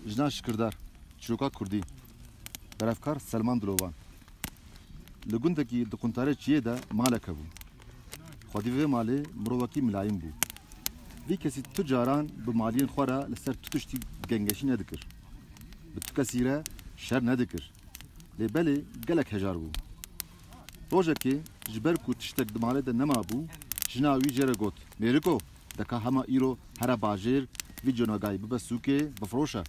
Jinan şikirdar, çîroka kurdî, berevkar Selman Dilovan. Li gundekî di quntarê çiyê de malek hebû. Xwedî vê malê mirovekî milayîn bû. Vî kesî tu caran bi maliyên xwe re li ser tu tiştî gengeşî nedikir. Bi tu kesî re şer nedikir. Lê belê gelek hejar bû. Rojekê ji ber ku tiştek di malê de nemabû, jina wî jê re got, Mêriko, deka hema îro here bajêr vî conagayî bibe sûkê bifiroşe.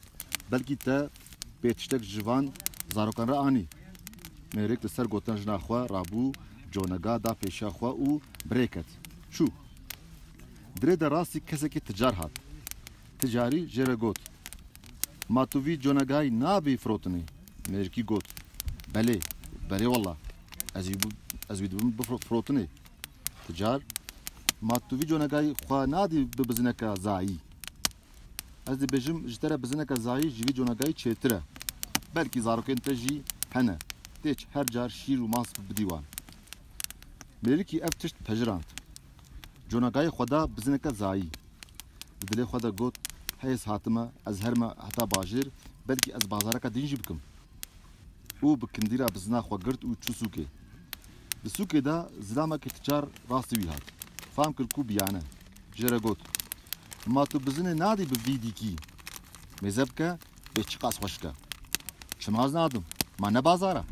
Belkî te bê tiştek ji van zarokan re anî. Mêrik li ser gotina jina xwe rabû, conaga da pêşiya xwe û bi rê ket. Çû. Di rê de rastî kesekî ticar hat. Ticarî jê re got, Ma tu vî conagayî nabî firotinê. Mêrkî got, Belê, belê wela, ez jî ez wî dibim bi firotinê. Ti car ma tu vî conegayî xwe nadî bi bizineke zayî. Ez dibêjim ji te re bizineke zayî ji vî conegayî çêtir e. Belkî zarokên te jî hene, têç her car şîr û mas bidî wan. Mêrkî ev tişt pejirand. Conagayê xwe da bi zineke zayî. Di dilê xwe de got, Hêz hatime ez herime heta bajêr, belkî ez bazareke din jî bikim. Û bi kindîra bizina xwe girt û çû sûkê. Di sûkê de zilamekî ticar rastî wî hat. Fam kir ku biyane. Jê re got, Ma tu bizinê nadî bi vî dîkî? Mêze bike bê çiqas xweşik e. Çima ez nadim? Ma ne bazar e?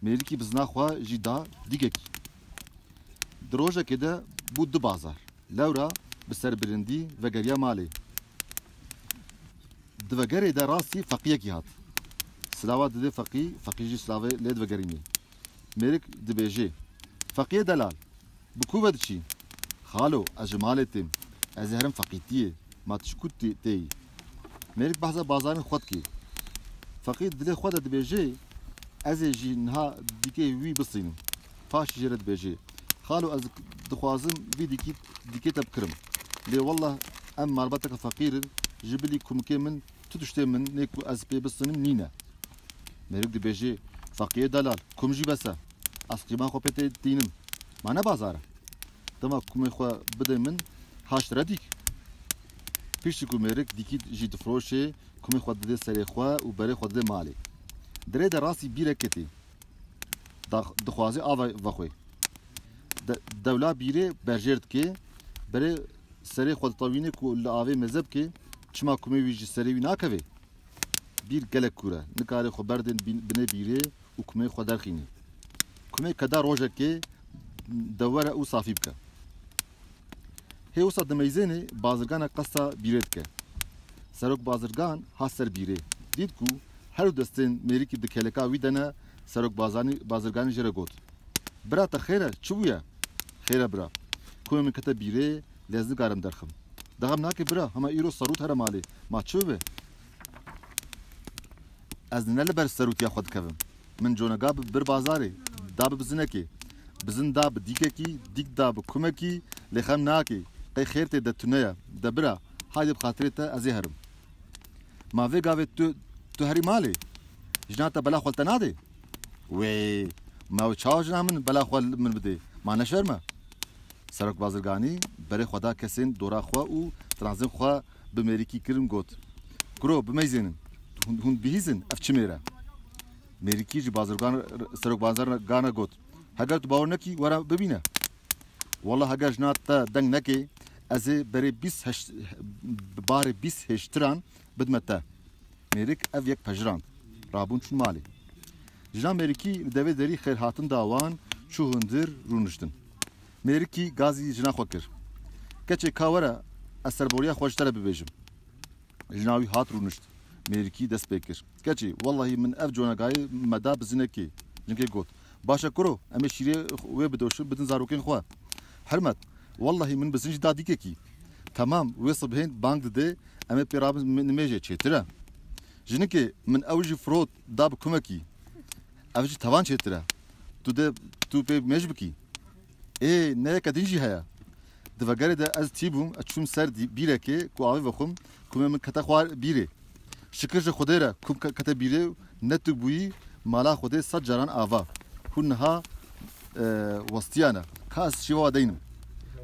Mêrikî bizina xwe jî da dîkekî. Di rojekê de bû du bazar. Lewra bi serbilindî vegeriya malê. Di vegerê de rastî feqîyekî hat. Silava didê feqî, feqî jî silavê lê divegerînê. Mêrik dibêjê, Feqîyê delal! Bi ku ve diçî? Xalo, ez ji malê têm. Ez ê herim feqîtiyê. Ma tu ji ku têyî? Mêrik behsa bazarên xwe dike. Feqîr di dilê xwe de dibêje, Ez ê jî niha dîkê wî bisînim. Paşî jê re dibêje, Xalo ez dixwazim vî dîkî dîkê te bikirim. Lê wellah em malbateke feqîr in, ji bilî kumikê min tu tiştê min nê ku ez pê bisînim nîne. Mêrik dibêje, Feqîyê delal, kum jî bes e. Ez qîma xwe pê tê tînim. Ma ne bazar e. Dema kumê xwe bidê min haşt redîk. Piştî ku mêrik dîkît jî difiroşê, kumê xwe didê serê xwe û berê xwe didê malê. Dirê de rastî bîrek ketî. Dax dixwazê ava vexwê. De dewla bîrê berjêr dikê, berê serê xwe ditewînê ku li avê mêze bikê, çima kumê wî ji serê wî nakevê? Bîr gelek kûr e. Nikarê xwe berdên binê bîrê û kumê xwe derxîne. Kumê keda rojekê dewere û safî bike. Hê wisa dimeyzênê bazirgana qesta bîrê dike. Serok bazirgan hat ser bîrê. Dît ku herû destên mêrikî di keleka wî de ne serok bazanî bazirganî jê re got. Bira te xêr e, çi bûye? Xêr e bira. Kumê min kete bîrê, lez nikarim derxim. Dixem nake bira, hema îro serût here malê, ma çi bibe? Ez ne li ber serûtiya xwe dikevim. Min conega bi bir bazarê, da bi bizinekê. Bizin da bi dîkekî, dîk da bi kumekî, lê xem nake. Qey xêr tê de tune ye. De bira, haydê bi xatirê te ez ê herim. Ma vê gavê tu, tu herî malê? Jina te bela xwe li te nadê? Wê! Ma wê çawa jina min bela xwe li min bidê? Ma ne şerm e? Serok Bazirganî berê xwe da kesên dora xwe û tiranzên xwe. bi mêrikî kirin got, Kuro bimeyzênin, hûn bihîzin ev çi mêr e? Mêrikî ji bazirgan serok bazirgan re got, Heger tu bawer nekî were bibîne. Wela heger jina te deng nekê ez ê berê bîst barê bîst hêştiran bidime te. Mêrik ev yek pejirand. Rabûn çûn malê. Jina mêrikî li devê derî xêrhatin da wan, çû hundir rûniştin. Mêrikî gazî jina xwe kir. Keçê ka were ez serboriya xwe ji te re bibêjim. Jina wî hat rûnişt. Mêrikî dest pê kir. Keçê, wellahî min ev conagayê me da bi zinekê. Jinkê got, Baş e kuro, em ê şîrê wê bidoşin bidin zarokên xwe. Hirmet, wellahî min bi zin jî da dîkekî. Temam, wê sibhên bang didê em ê pê rabin nimêjê çêtir e. Jinikê, min ew jî firot da bi kumekî. Ev jî tavan çêtir e. Tu dê tu pê mêj bikî. Ê neyeke din jî heye. Di vegerê de ez tî bûm, ez çûm ser bîrekê ku avê vexwim, komê min kete xwar bîrê. Şikir ji Xwedê re kom kete bîrê û ne tu bûyî mala Xwedê sed caran ava. Hûn niha westiyane. Ka ez şîva we deynim.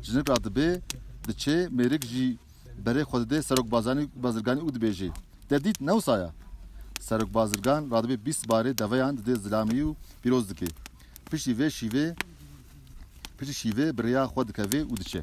Jinik ra dibê, diçê, mêrik jî. Berê xwe dide Serok Bazirganî û dibêjê, Te dît ne wisa ye? Serok Bazirgan radibê bîst barê deveyan didê zilamî û pîroz dike. Piştî vê şîvê piştî şîvê bi rêya xwe dikeve û diçe.